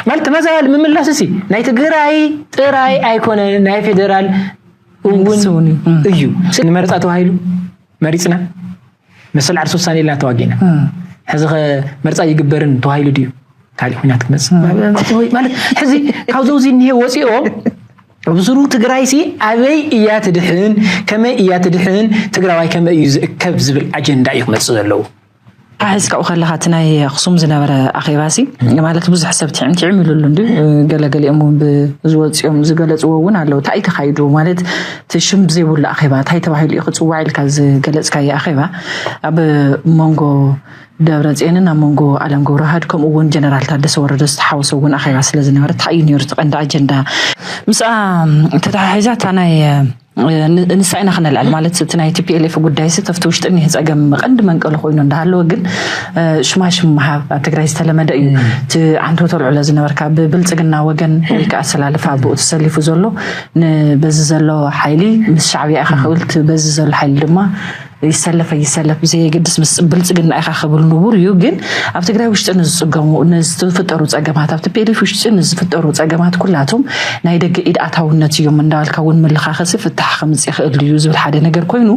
ማለት ተመዛባሊ ምምላስ እሲ ናይ ትግራይ ጥራይ ኣይኮነ ናይ ፌደራል እውን እዩ ንመረፃ ተባሂሉ መሪፅና መሰል ዓርሲ ውሳኔ ኢልና ተዋጊእና ሕዚ ከ መርፃ ይግበርን ተባሂሉ ድዩ ካልእ ኩናት ክመፅእ ማለት ሕዚ ካብ ዘውዚ እኒሄ ወፂኦም ብስሩ ትግራይ ሲ ኣበይ እያ ትድሕን ከመይ እያ ትድሕን ትግራዋይ ከመይ እዩ ዝእከብ ዝብል ኣጀንዳ እዩ ክመፅእ ዘለዎ ኣሒዝካኡ ከለኻ እቲ ናይ ኣኽሱም ዝነበረ ኣኼባሲ ማለት ብዙሕ ሰብ ትዕም ትዕም ኢሉሉ እንድዩ ገለገሊኦም እውን ብዝወፅኦም ዝገለፅዎ እውን ኣለዉ እንታይ እዩ ተኻይዱ ማለት እቲ ሽም ብዘይብሉ ኣኼባ እንታይ ተባሂሉ እዩ ክፅዋዕ ኢልካ ዝገለፅካዮ ኣኼባ ኣብ መንጎ ደብረፅዮንን ኣብ መንጎ ኣለም ገብረዋህድ ከምኡ እውን ጀነራል ታደሰ ወረደ ዝተሓወሰ እውን ኣኼባ ስለ ዝነበረ እንታይ እዩ ነይሩ እቲ ቀንዲ ኣጀንዳ ምስኣ ተተሓሒዛ እታ ናይ ንሳ ኢና ክነልዕል ማለት እቲ ናይ ቲፒኤልኤፍ ጉዳይ ሲ ተፍቲ ውሽጢ እኒህ ፀገም ቀንዲ መንቀሊ ኮይኑ እንዳሃለወ ግን ሽማሽም ምሃብ ኣብ ትግራይ ዝተለመደ እዩ እቲ ዓንቶ ተልዕሎ ዝነበርካ ብብልፅግና ወገን ወይ ከዓ ኣሰላልፋ ብኡ ተሰሊፉ ዘሎ በዚ ዘሎ ሓይሊ ምስ ሻዕብያ ኢኻ ክብል በዚ ዘሎ ሓይሊ ድማ ይሰለፍ ኣይሰለፍ ብዘየገድስ ምስ ብልፅግና ኢኻ ክብል ንቡር እዩ። ግን ኣብ ትግራይ ውሽጢ ንዝፅገሙ ንዝፍጠሩ ፀገማት ኣብ ቲፒኤልኤፍ ውሽጢ ንዝፍጠሩ ፀገማት ኩላቶም ናይ ደገ ኢድ ኣታውነት እዮም እንዳበልካ እውን ምልኻኸሲ ፍታሕ ከምፅ ይኽእል እዩ ዝብል ሓደ ነገር ኮይኑ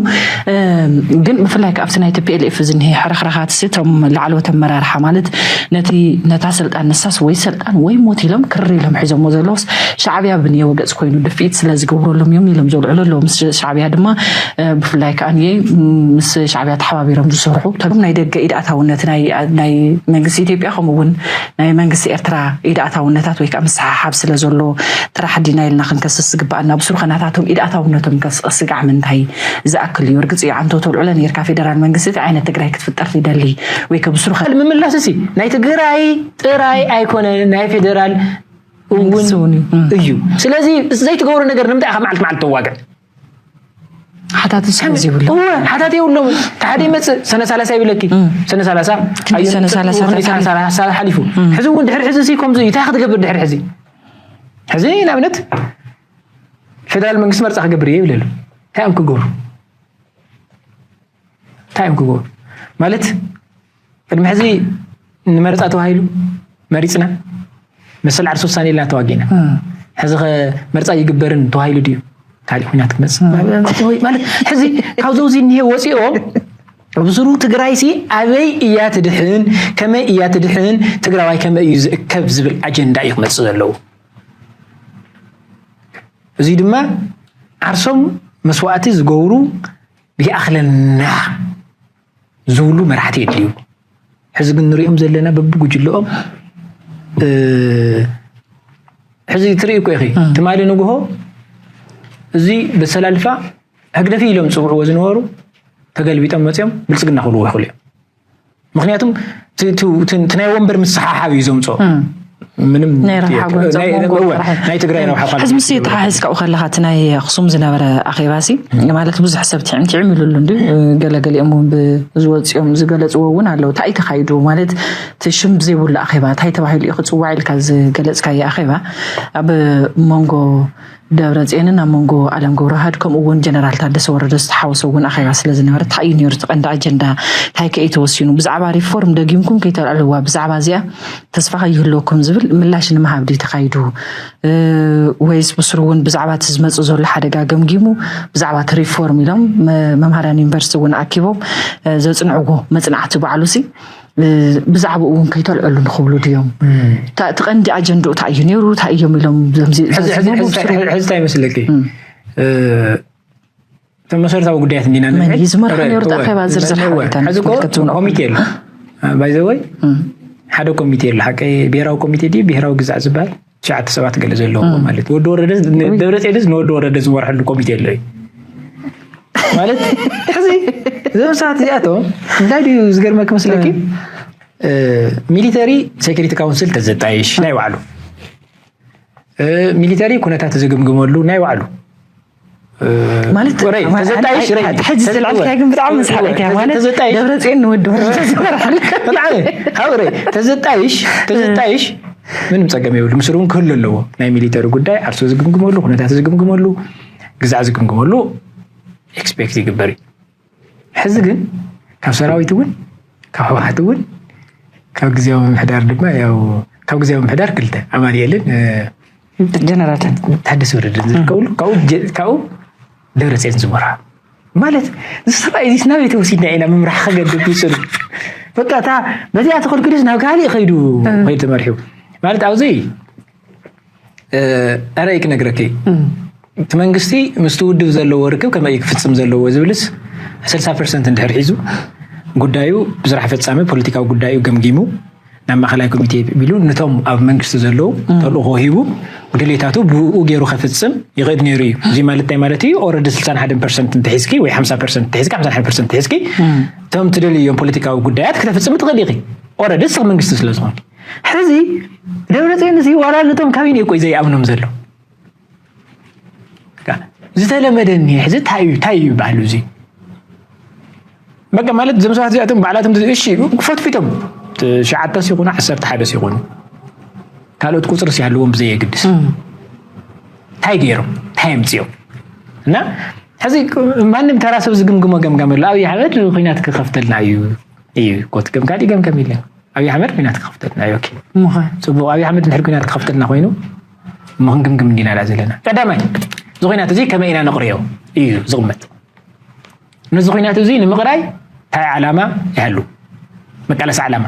ግን ብፍላይ ከዓ ኣብቲ ናይ ቲፒኤልኤፍ ዝኒሀ ሕርኽርኻት ሲ እቶም ላዕለዎት ኣመራርሓ ማለት ነቲ ነታ ስልጣን ንሳስ ወይ ስልጣን ወይ ሞት ኢሎም ክር ኢሎም ሒዞሞ ዘለውስ ሻዕብያ ብንየወ ገፅ ኮይኑ ድፍኢት ስለዝገብረሎም እዮም ኢሎም ዘልዕሉ ኣለዉ ምስ ሻዕብያ ድማ ብፍላይ ከዓ ምስ ሻዕቢያ ተሓባቢሮም ዝሰርሑ እቶም ናይ ደገ ኢድ ኣታውነት ናይ መንግስቲ ኢትዮጵያ ከምኡ እውን ናይ መንግስቲ ኤርትራ ኢድ ኣታውነታት ወይ ከዓ ምስሓሓብ ስለ ዘሎ ጥራሕ ዲና ኢልና ክንከስስ ዝግባኣና ብስሩ ከናታቶም ኢድ ኣታውነቶም ስጋዕ ምንታይ ዝኣክል እዩ እርግፅ እዩ ዓንቶ ተልዕሎ ነርካ ፌደራል መንግስቲ እቲ ዓይነት ትግራይ ክትፍጠር ይደሊ ወይ ከብስሩ ምምላስ እዚ ናይ ትግራይ ጥራይ ኣይኮነ ናይ ፌደራል እውን እዩ ስለዚ ዘይትገብሩ ነገር ንምንታይ ኢኻ መዓልቲ መዓልቲ ተዋግዕ ሓታቲ ስም ዘይብሉ እወ ሓታቲ የብሎምን ተሓደ ይመፅእ ሰነ ሰላሳ ይብለኪ ሰነ ሰላሳ ሰነ ሰላሳ ሓሊፉ ሕዚ እውን ድሕሪ ሕዚ ሲ ከምዚ እዩ እንታይ ክትገብር ድሕሪ ሕዚ ሕዚ ንኣብነት ፌደራል መንግስቲ መርፃ ክገብር እየ ይብለሉ እንታይ እዮም ክገብሩ እንታይ እዮም ክገብሩ ማለት ቅድሚ ሕዚ ንመረፃ ተባሂሉ መሪፅና መሰል ዓርሲ ውሳኔ ኢልና ተዋጊእና ሕዚ ከ መርፃ ይግበርን ተባሂሉ ድዩ ካልእ ኩናት ክመፅእ ማለት ሕዚ ካብ ዘውዚ እኒሄ ወፂኦም ብስሩ ትግራይ ሲ ኣበይ እያ ትድሕን ከመይ እያ ትድሕን ትግራዋይ ከመይ እዩ ዝእከብ ዝብል ኣጀንዳ እዩ ክመፅእ ዘለዎ እዙይ ድማ ዓርሶም መስዋእቲ ዝገብሩ ይኣኽለና ዝብሉ መራሕቲ የድልዩ። ሕዚ ግን ንሪኦም ዘለና በብጉጅለኦም ሕዚ ትርኢ እኮ ኢኺ ትማሊ ንግሆ እዚ በሰላልፋ ህግደፍ ኢሎም ዝፅውዕዎ ዝነበሩ ተገልቢጦም መፅኦም ብልፅግና ክብልዎ ይኽእሉ እዮም። ምክንያቱም እቲ ናይ ወንበር ምስሓሓብ እዩ ዘምፅኦ ምንም ናይ ረብሓ ጥያቄ- ጎንፂ ናይ- ኣብ መንጎ ናይ- ጥራሕ እዩ። ናይ ትግራይ ረብሓ እኳ ሕዚ ምስ ተሓሒዝካ ኣብኡ ከለካ እቲ ናይ ኣክሱም ዝነበረ ኣኼባ ሲ ማለት ብዙሕ ሰብ ትዕም ትዕም ኢሉሉ እንዲ ገለገሊኦም እውን ብዝወፅኦም ዝገለፅዎ እውን ኣለዉ እንታይ እዩ ተካይዱ ማለት እቲ ሽም ብዘይብሉ ኣኼባ እንታይ ተባሂሉ እዩ ክፅዋዕ ኢልካ ዝገለፅካዮ ኣኼባ ኣብ መንጎ ደብረጼንን ኣብ መንጎ ኣለም ጉብረሃድ ከምኡ እውን ጀነራል ታደሰ ወረደ ዝተሓወሶ እውን ኣኼባ ስለ ዝነበረ እንታይ እዩ ነይሩ እቲ ቀንዲ ኣጀንዳ እንታይ ከ እዩ ተወሲኑ ብዛዕባ ሪፎርም ደጊምኩም ከይተልዕልዋ ብዛዕባ እዚኣ ተስፋ ከይህልወኩም ዝብል ምላሽ ንምሃብ ድዩ ተኻይዱ ወይስ ብስሩ እውን ብዛዕባ እቲ ዝመፅእ ዘሎ ሓደጋ ገምጊሙ ብዛዕባ እቲ ሪፎርም ኢሎም መምሃርያን ዩኒቨርሲቲ እውን ኣኪቦም ዘፅንዕዎ መፅናዕቲ ባዕሉ ሲ ብዛዕባኡ እውን ከይተልዐሉ ንክብሉ ድዮም እቲ ቀንዲ ኣጀንድኡ እንታይ እዩ ነይሩ እንታይ እዮም ኢሎም ሕዝታይ ይመስለኪ እቶም መሰረታዊ ጉዳያት እንዲና መን እዩ ዝመርሖ ነይሩ ኣኼባ ዝርዝር ሓበሬታኮሚቴ ኣሎ ባይዘወይ ሓደ ኮሚቴ ኣሎ ሓቂ ብሄራዊ ኮሚቴ ድዩ ብሄራዊ ግዛዕ ዝበሃል ትሽዓተ ሰባት ገለ ዘለዎ ማለት ወዲ ወረደ ደብረፅዮንስ ንወዲ ወረደ ዝመርሐሉ ኮሚቴ ኣሎ እዩ ማለት ሕዚ እዞም ሰባት እዚኣቶም እንታይ ድዩ ዝገርመኪ መስለኪ ሚሊተሪ ሴኪሪቲ ካውንስል ተዘጣይሽ ናይ ባዕሉ ሚሊተሪ ኩነታት ዝግምግመሉ ናይ ባዕሉ ማለት ሕዚ ዝተልዓልካያ ግን ብጣዕሚ መስሓቀት እያ ማለት ደብረ ፅዮን ንወዲ ወረደ ተዘጣይሽ ተዘጣይሽ ምንም ፀገም የብሉ ምስሩ እውን ክህሉ ኣለዎ ናይ ሚሊተሪ ጉዳይ ዓርሶ ዝግምግመሉ ኩነታት ዝግምግመሉ ግዛዕ ዝግምግመሉ ኤክስፔክት ይግበር እዩ ሕዚ ግን ካብ ሰራዊት እውን ካብ ህወሓት እውን ካብ ግዜያዊ ምምሕዳር ድማ ያው ካብ ግዜያዊ ምምሕዳር ክልተ ኣማንኤልን ጀነራትን ታደሰ ወረደን ዝርከብሉ ካብኡ ደብረፅዮን ዝመራ ማለት ዝሰብኣይ እዚ ናበይ ተወሲድና ኢና ምምራሕ ከገድብ ይፅሉ በቃ እታ በዚኣ ተኸልኪሉስ ናብ ካልእ ከይዱ ከይዱ ተመሪሑ ማለት ኣብዘይ ዕረይ ክነግረኪ እቲ መንግስቲ ምስቲ ውድብ ዘለዎ ርክብ ከመይ ክፍፅም ዘለዎ ዝብልስ ስልሳ ፐርሰንት እንድሕር ሒዙ ጉዳዩ ብስራሕ ፈፃሚ ፖለቲካዊ ጉዳዩ ገምጊሙ ናብ ማእኸላይ ኮሚቴ ቢሉ ነቶም ኣብ መንግስቲ ዘለዉ ተልእኾ ሂቡ ድሌታቱ ብኡ ገይሩ ከፍፅም ይኽእል ነይሩ እዩ እዚ ማለት እንታይ ማለት እዩ ኦረዲ ስልሳን ሓደን ፐርሰንት እንተሒዝኪ ወይ ሓምሳ ፐርሰንት እንተሒዝኪ ሓምሳን ሓደ ፐርሰንት እንተሒዝኪ እቶም ትደልዮም ፖለቲካዊ ጉዳያት ክተፍፅሚ ትኽእል ኢኺ ኦረዲ ንስኺ መንግስቲ ስለዝኾንኪ ሕዚ ደብረፅዮን እዚ ዋላ ነቶም ካቢነ እኮ ዘይኣምኖም ዘሎ ዝተለመደ እኒሄ ሕዚ እንታይ እዩ እንታይ እዩ ይበሃል እዚ በቃ ማለት እዞም ሰባት እዚኣቶም ባዕላቶም እሺ ፈትፊቶም ትሽዓተ ሲኹኑ ዓሰርተ ሓደ ሲኹኑ ካልኦት ቁፅሪ ሲሃለዎም ብዘየግድስ እንታይ ገይሮም እንታይ ኣምፅኦም እና ሕዚ ማንም ተራ ሰብ ዝግምግሞ ገምጋም ኣሎ ኣብዪ ኣሕመድ ኩናት ክኸፍተልና እዩ እዩ ኮት ገምጋዲ ገምገም ኢለን ኣብይ ኣሕመድ ኩናት ክኸፍተልና እዩ ኦኬ እሞኸ ጽቡቕ ኣብይ ኣሕመድ ድሕሪ ኩናት ክኸፍተልና ኮይኑ እሞ ክንግምግም እንዲና ድኣ ዘለና ቀዳማይ እዚ ኩናት እዚ ከመይ ኢና ነቕርዮ እዩ ዝቕመጥ ነዚ ኩናት እዚ ንምቕራይ እንታይ ዓላማ ይሃሉ መቃለሲ ዓላማ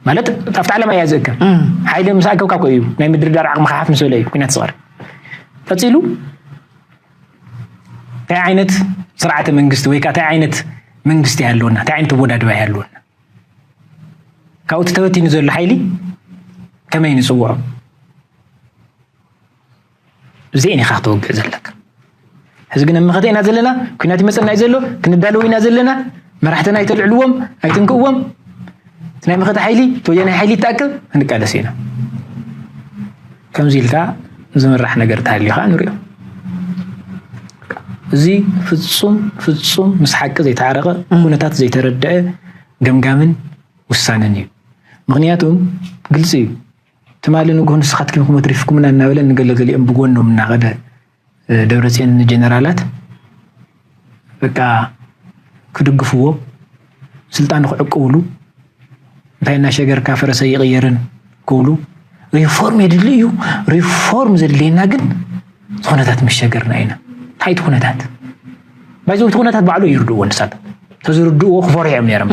ማለት ኣብቲ ዓለማ እያ ዝእከብ ሓይሊ ምስ ኣከብካ ኮ እዩ ናይ ምድርዳር ዓቕሚ ሓፍ ምስ በለ እዩ ኩናት ዝቐርብ ቀፂሉ እንታይ ዓይነት ስርዓተ መንግስቲ ወይ ከዓ እንታይ ዓይነት መንግስቲ ይሃለወና እንታይ ዓይነት ኣወዳድባ ይሃለወና ካብኡ እቲ ተበቲኑ ዘሎ ሓይሊ ከመይ ንፅውዖ? እዚኤን ኢኻ ክተወግዕ ዘለካ ሕዚ ግን መኸተ ኢና ዘለና ኩናት ይመፀና እዩ ዘሎ ክንዳለው ኢና ዘለና መራሕትና ኣይተልዕልዎም ኣይትንክእዎም ናይ መኸተ ሓይሊ እቲ ወያናይ ሓይሊ ይተኣከብ ክንቃለስ ኢና ከምዚ ኢልካ ዝምራሕ ነገር እንተሃልዩ ከዓ ንሪኦ። እዚ ፍፁም ፍፁም ምስ ሓቂ ዘይተዓረቐ ኩነታት ዘይተረድዐ ገምጋምን ውሳነን እዩ። ምክንያቱ ግልፂ እዩ ትማሊ ንጉሆ ንስካትኪም ክሞት ሪፍኩምና እናበለ ንገለገሊኦም ብጎኖም እናኸደ ደብረፅዮን ንጀነራላት በቃ ክድግፍዎ ስልጣን ክዕቅብሉ እንታይ እናሸገርካ ፈረሰ ኣይቕየርን ክብሉ ሪፎርም የድሊ እዩ ሪፎርም ዘድልየና ግን ዝኾነታት ምስ ሸገርና ኢና እንታይ እቲ ኩነታት ባይዘ እቲ ኩነታት ባዕሉ ይርድእዎ ንሳት ተዝርድእዎ ክፈርሑ እዮም ነይሮም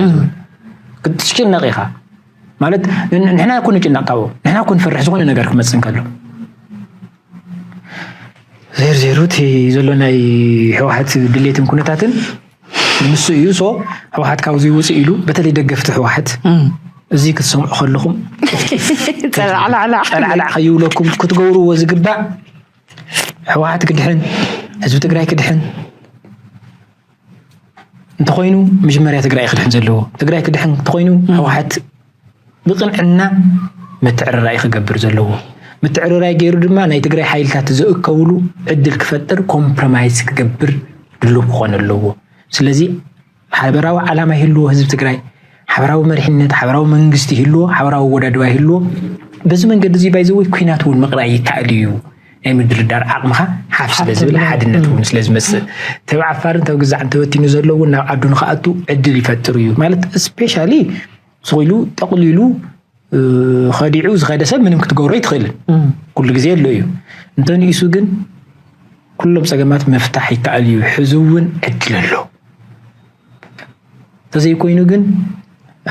ክትጭነቕ ኢኻ ማለት ንሕና ኮ ንጭነቕ ካብኡ ንሕና ኮ ንፈርሕ ዝኾነ ነገር ክመፅእ እንከሎ ዜርዜሩ እቲ ዘሎ ናይ ህወሓት ድሌትን ኩነታትን ንሱ እዩ ሶ ህወሓት ካብዚ ውፅእ ኢሉ በተለይ ደገፍቲ ህወሓት እዚ ክትሰምዑ ከለኹም ፀላዕላዕ ከይብለኩም ክትገብርዎ ዝግባእ ህወሓት ክድሕን ህዝቢ ትግራይ ክድሕን እንተኾይኑ መጀመርያ ትግራይ ክድሕን ዘለዎ ትግራይ ክድሕን እንተኾይኑ ህወሓት ብቅንዕና ምትዕርራይ ክገብር ዘለዎ ምትዕርራይ ገይሩ ድማ ናይ ትግራይ ሓይልታት ዘእከብሉ ዕድል ክፈጥር ኮምፕሮማይዝ ክገብር ድሉው ክኾን ኣለዎ ስለዚ ሓበራዊ ዓላማ ይህልዎ ህዝቢ ትግራይ ሓበራዊ መሪሕነት ሓበራዊ መንግስቲ ይህልዎ ሓበራዊ ወዳድባ ይህልዎ በዚ መንገዲ እዚ ባይዘወይ ኩናት እውን ምቅራይ ይከኣል እዩ ናይ ምድርዳር ዓቕምኻ ሓፍ ስለ ዝብል ሓድነት እውን ስለ ዝመፅእ ተብ ዓፋርን ተብ ግዛዕን ተበቲኑ ዘሎ እውን ናብ ዓዱ ንክኣቱ ዕድል ይፈጥር እዩ ማለት ስፔሻሊ ስኢሉ ጠቕሊሉ ከዲዑ ዝኸደ ሰብ ምንም ክትገብሮ ይትኽእልን ኩሉ ግዜ ኣሎ እዩ እንተንኢሱ ግን ኩሎም ፀገማት ምፍታሕ ይከኣል እዩ ሕዚ እውን ዕድል ኣሎ እንተዘይኮይኑ ግን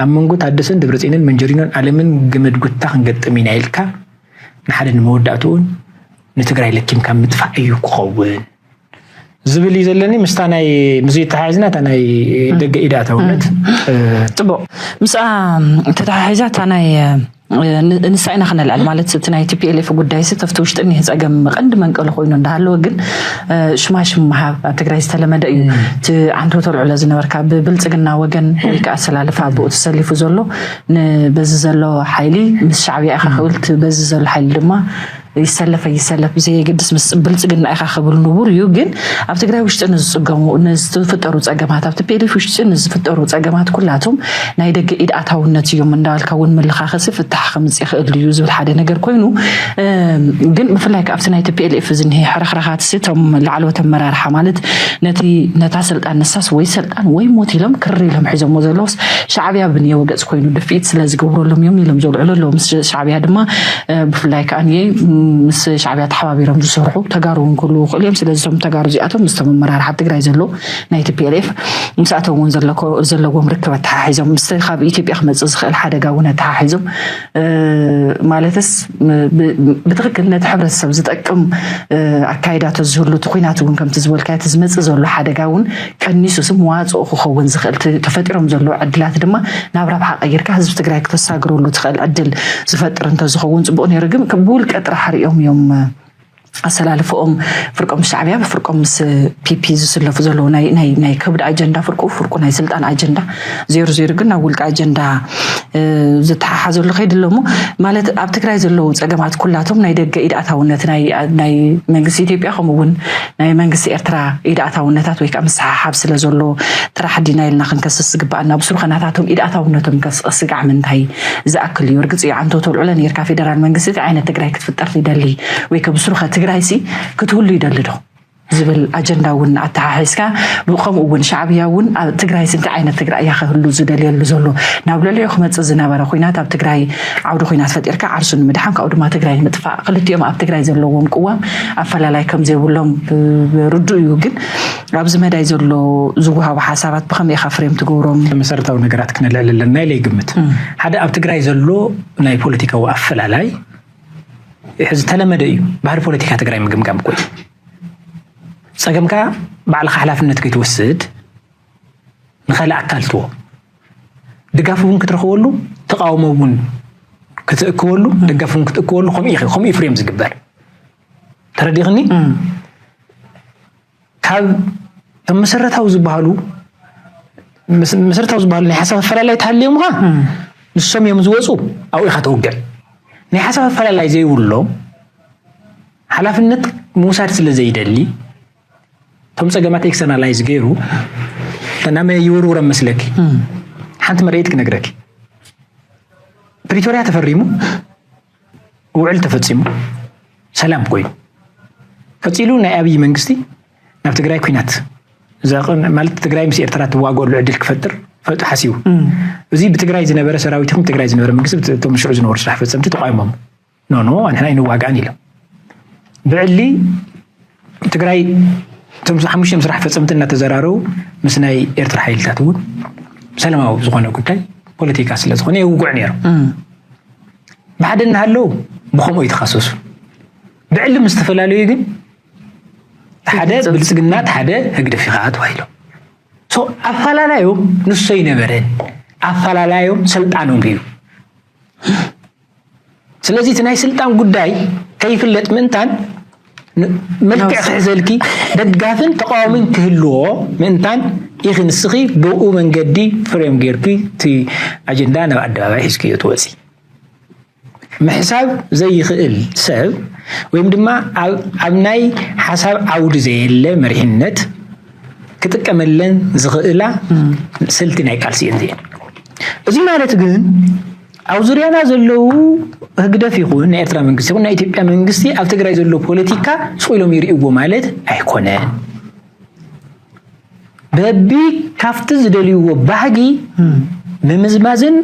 ኣብ መንጎ ታደሰን ደብረፅንን መንጀሪኖን ኣለምን ገመድ ጉታ ክንገጥም ኢና ኢልካ ንሓደ ንመወዳእትኡን ንትግራይ ለኪምካ ምጥፋእ እዩ ክኸውን ዝብል እዩ ዘለኒ ምስታ ናይ ምዙ ተሓሒዝና እታ ናይ ደገ ኢዳ ተውነት ፅቡቅ ምስኣ ተተሓሒዛ እታ ናይ ንሳ ኢና ክነልዕል ማለት እቲ ናይ ቲፒኤልኤፍ ጉዳይ ሲ ተፍቲ ውሽጢ እኒህ ፀገም ቀንዲ መንቀሉ ኮይኑ እንዳሃለወ ግን ሽማሽም ምሃብ ኣብ ትግራይ ዝተለመደ እዩ እቲ ዓንቶ ተልዕሎ ዝነበርካ ብብልፅግና ወገን ወይ ከዓ ኣሰላልፋ ብኡ ተሰሊፉ ዘሎ ንበዚ ዘሎ ሓይሊ ምስ ሻዕብያ ኢኻ ክብል እቲ በዚ ዘሎ ሓይሊ ድማ ይሰለፍ ኣይሰለፍ ብዘየገድስ ምስ ብልፅግና ኢኻ ክብል ንቡር እዩ። ግን ኣብ ትግራይ ውሽጢ ንዝፅገሙ ንዝፍጠሩ ፀገማት ኣብ ቲፒኤልኤፍ ውሽጢ ንዝፍጠሩ ፀገማት ኩላቶም ናይ ደገ ኢድ ኣታውነት እዮም እንዳበልካ እውን ምልኻኸሲ ፍታሕ ከምፅእ ይኽእል እዩ ዝብል ሓደ ነገር ኮይኑ እ፣ ግን ብፍላይ ከ ኣብቲ ናይ ቲፒኤልኤፍ ዝኒሀ ሕርኽርኻትሲ እቶም ላዕለዎት ኣመራርሓ ማለት ነቲ ነታ ስልጣን ንሳስ ወይ ጣን ወይ ሞት ኢሎም ክሪ ኢሎም ሒዞሞ ዘለውስ ሻዕብያ ብንየው ገፅ ኮይኑ ድፍኢት ስለ ዝገብረሎም እዮም ኢሎም ዘውልዕሉ ኣለዉ ምስ ሻዕብያ ድማ ብፍላይ ከዓ ንየ ምስ ሻዕብያ ተሓባቢሮም ዝሰርሑ ተጋሩ እውን ክህልው ይኽእሉ እዮም ስለዚ እቶም ተጋሩ እዚኣቶም ምስቶም ኣመራርሓ ትግራይ ዘለዉ ናይ ቲፒኤልኤፍ ምስኣቶም እውን ዘለዎም ርክብ ኣተሓሒዞም ምስ ካብ ኢትዮጵያ ክመፅእ ዝኽእል ሓደጋ እውን ኣተሓሒዞም ማለትስ ብትክክል ነቲ ሕብረተሰብ ዝጠቅም ኣካይዳ ተዝህሉ እቲ ኩናት እውን ከምቲ ዝበልካዮ እቲ ዝመፅእ ዘሎ ሓደጋ እውን ቀኒሱ ስ መዋፅኦ ክኸውን ዝኽእል ተፈጢሮም ዘለዉ ዕድላት ድማ ናብ ረብሓ ቀይርካ ህዝቢ ትግራይ ክተሳግረሉ ትኽእል ዕድል ዝፈጥር እንተዝኸውን ፅቡቅ ነይሩ ግን ብውልቀ ጥራሕ ሪኦም እዮም ኣሰላልፍኦም ፍርቆም ምስ ሻዕብያ ብፍርቆም ምስ ፒፒ ዝስለፉ ዘለዉ ናይ ከብዲ ኣጀንዳ ፍርቁ ፍርቁ ናይ ስልጣን ኣጀንዳ ዜሩ ዜሩ ግን ናብ ውልቂ ኣጀንዳ ዝተሓሓዘሉ ከይዲ ኣሎ እሞ ማለት ኣብ ትግራይ ዘለዉ ፀገማት ኩላቶም ናይ ደገ ኢድ ኣታውነት ናይ መንግስቲ ኢትዮጵያ ከምኡ እውን ናይ መንግስቲ ኤርትራ ኢድ ኣታውነታት ወይ ከዓ ምስሓሓብ ስለ ዘሎ ጥራሕ ዲና ኢልና ክንከስስ ዝግባኣና ብስሩ ከናታቶም ኢድ ኣታውነቶም ከስቅስ ስጋዕ ምንታይ ዝኣክል እዩ ርግጽ እዩ ዓንተው ተልዕሎ ነርካ ፌደራል መንግስቲ እቲ ዓይነት ትግራይ ክትፍጠር ይደሊ ወይ ከብስሩኸ ትግራይሲ ክትህሉ ይደሊ ዶ ዝብል ኣጀንዳ እውን ኣተሓሒዝካ ከምኡ እውን ሻዕብያ እውን ኣብ ትግራይሲ እንታይ ዓይነት ትግራይ እያ ከህሉ ዝደልየሉ ዘሎ ናብ ልዕሊዑ ክመፅእ ዝነበረ ኩናት ኣብ ትግራይ ዓውዲ ኩናት ፈጢርካ ዓርሱ ንምድሓን ካብኡ ድማ ትግራይ ንምጥፋእ ክልቲኦም ኣብ ትግራይ ዘለዎም ቅዋም ኣፈላላይ ከምዘይብሎም ርዱእ እዩ ግን ኣብዚ መዳይ ዘሎ ዝወሃቡ ሓሳባት ብኸመይ ኢኻ ፍሬም ትገብሮም? መሰረታዊ ነገራት ክነልዕል ኣለና ኢለ ይግምት። ሓደ ኣብ ትግራይ ዘሎ ናይ ፖለቲካዊ ኣፈላላይ ዝተለመደ እዩ። ባህሪ ፖለቲካ ትግራይ ምግምጋም እኮ እዩ። ፀገምካ ባዕልኻ ሓላፍነት ከይትወስድ ንካልእ ኣካል ትዎ ድጋፍ እውን ክትረኽበሉ ተቃውሞ እውን ክትእክበሉ ደጋፍ እውን ክትእክበሉ ከምኡ ከምኡ ፍሬም ዝግበር ተረዲኽኒ ካብ እቶም መሰረታዊ ዝበሃሉ መሰረታዊ ዝበሃሉ ናይ ሓሳብ ኣፈላላይ ተሃልዮምኻ ንሶም እዮም ዝወፁ ኣብኡ ኢኻ ተውግዕ ናይ ሓሳብ ኣፈላላይ ዘይብሎም ሓላፍነት ምውሳድ ስለ ዘይደሊ እቶም ፀገማት ኤክስተርናላይዝ ገይሩ ናብ መን ይውርውረም መስለኪ ሓንቲ መርኢት ክነግረኪ ፕሪቶሪያ ተፈሪሙ ውዕል ተፈፂሙ ሰላም ኮይኑ ቀፂሉ ናይ ኣብይ መንግስቲ ናብ ትግራይ ኩናት ማለት ትግራይ ምስ ኤርትራ ትዋገሉ ዕድል ክፈጥር ፈጡ ሓሲቡ እዚ ብትግራይ ዝነበረ ሰራዊት ይኹን ትግራይ ዝነበረ መንግስቲ እቶም ሽዑ ዝነበሩ ስራሕ ፈፀምቲ ተቋይሞም ኖኖ ኣንሕና ኣይንዋጋእን ኢሎም ብዕሊ ትግራይ እቶም ሓሙሽተ ምስራሕ ፈፀምቲ እናተዘራረቡ ምስ ናይ ኤርትራ ሓይልታት እውን ሰላማዊ ዝኾነ ጉዳይ ፖለቲካ ስለ ዝኾነ የውግዑ ነይሮም ብሓደ እናሃለዉ ብከምኡ ይተኻሰሱ ብዕሊ ምስ ዝተፈላለዩ ግን ሓደ ብልፅግና ሓደ ህግደፍ ኢኻ ተባሂሎም ኣፈላላዮም ንሶ ይነበረን ኣፈላላዮም ስልጣኖም እዩ ስለዚ እቲ ናይ ስልጣን ጉዳይ ከይፍለጥ ምእንታን መልክዕ ክሕዘልኪ ደጋፍን ተቃዋሚን ክህልዎ ምእንታን ኢኺ ንስኺ ብኡ መንገዲ ፍሬም ጌርኪ እቲ ኣጀንዳ ናብ ኣደባባይ ሒዝክዮ ትወፂ ምሕሳብ ዘይኽእል ሰብ ወይም ድማ ኣብ ናይ ሓሳብ ዓውዲ ዘየለ መሪሕነት ክጥቀመለን ዝኽእላ ስልቲ ናይ ቃልሲ እየን እዚኤን እዚ ማለት ግን ኣብ ዙርያና ዘለዉ ህግደፍ ይኹን ናይ ኤርትራ መንግስቲ ይኹን ናይ ኢትዮጵያ መንግስቲ ኣብ ትግራይ ዘሎ ፖለቲካ ስቕ ኢሎም ይርእይዎ ማለት ኣይኮነ በቢ ካብቲ ዝደልይዎ ባህጊ ምምዝማዝን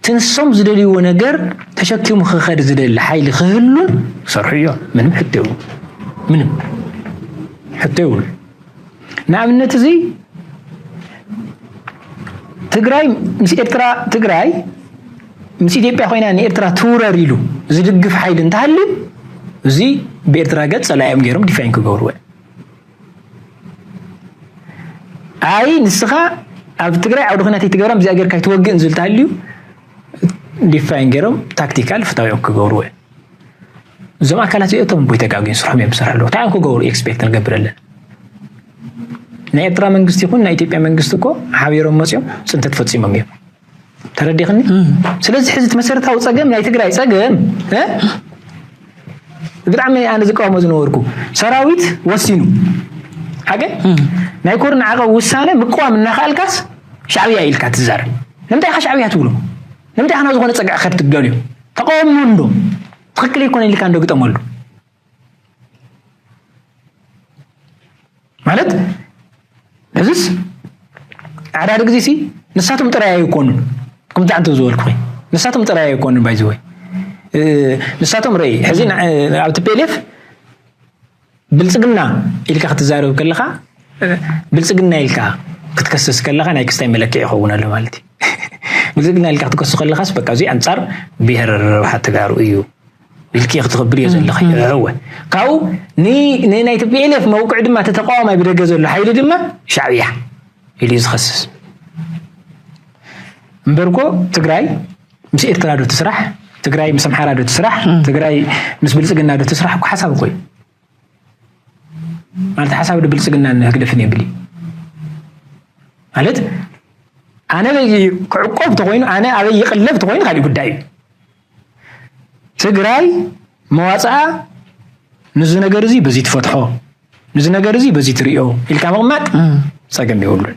ትንሶም ዝደልይዎ ነገር ተሸኪሙ ክኸድ ዝደሊ ሓይሊ ክህሉን ክሰርሑ እዮም ምንም ሕቶ ምንም ሕቶ ይብሉ ንኣብነት እዚ ትግራይ ምስ ኤርትራ ትግራይ ምስ ኢትዮጵያ ኮይና ንኤርትራ ትውረር ኢሉ ዝድግፍ ሓይሊ እንተሃልዩ እዚ ብኤርትራ ገፅ ፀላኢኦም ገይሮም ዲፋይን ክገብርዎ ኣይ ንስኻ ኣብ ትግራይ ዓውደ ኩናት ኣይትገብራን ብዚኣ ጌርካ ኣይትወግእን ዝብል ተሃልዩ ዲፋይን ገይሮም ታክቲካል ፍታዊኦም ክገብርዎ እዮም እዞም ኣካላት እዚኦቶም ቦይ ተጋግዩ ስርሖም እዮም ዝሰርሑ ኣለዉ እንታይ እዮም ክገብሩ ኤክስፔክት ንገብረለን ናይ ኤርትራ መንግስቲ ይኹን ናይ ኢትዮጵያ መንግስቲ እኮ ሓቢሮም መፅኦም ፅንተት ፈፂሞም እዮም ተረዲኽኒ ስለዚ ሕዚ እቲ መሰረታዊ ፀገም ናይ ትግራይ ፀገም ብጣዕሚ ኣነ ዝቃወሞ ዝነበርኩ ሰራዊት ወሲኑ ሓቂ ናይ ኮርን ዓቐብ ውሳነ ምቅዋም እናኸኣልካስ ሻዕብያ ኢልካ ትዛረብ ንምንታይ ኢኻ ሻዕብያ ትብሎ ንምንታይ ኣና ዝኾነ ጸግዒ ከትገሉ እዩ ተቃወሞ እንዶ ትክክል ኣይኮነ ኢልካ እንዶ ግጠመሉ ማለት እዚስ ኣዕዳዲ ግዜ ሲ ንሳቶም ጥራይ ኣይኮኑን ከምዚ ዓንተ ዝበልኩ ኮይ ንሳቶም ጥራይ ኣይኮኑን ባይዚ ወይ ንሳቶም ረይ ሕዚ ኣብ ቲፔሌፍ ብልጽግና ኢልካ ክትዛረብ ከለኻ ብልጽግና ኢልካ ክትከስስ ከለኻ ናይ ክስታይ መለክዒ ይኸውን ኣሎ ማለት እዩ ብልጽግና ኢልካ ክትከሱ ከለኻስ በቃ እዚ ኣንጻር ብሄር ረብሓ ተጋሩ እዩ ኢልኪ ክትኽብር እዮ ዘለኺ እወ ካብኡ ንናይ ቲፒኤልኤፍ መውቅዒ ድማ እቲ ተቃዋማይ ብደገ ዘሎ ሓይሊ ድማ ሻዕብያ ኢሉ እዩ ዝኸስስ እምበርኮ ትግራይ ምስ ኤርትራ ዶ ትስራሕ ትግራይ ምስ ኣምሓራ ዶ ትስራሕ ትግራይ ምስ ብልፅግና ዶ ትስራሕ እኮ ሓሳብ እኮ እዩ ማለት ሓሳብ ዶ ብልፅግና ንህግደፍን የብል እዩ ማለት ኣነ ክዕቆብ ተኮይኑ ኣነ ኣበይ ይቅለብ ተኮይኑ ካሊእ ጉዳይ እዩ ትግራይ መዋፅኣ ንዚ ነገር እዚ በዚ ትፈትሖ ንዚ ነገር እዚ በዚ ትሪኦ ኢልካ ምቕማጥ ፀገም የብሉን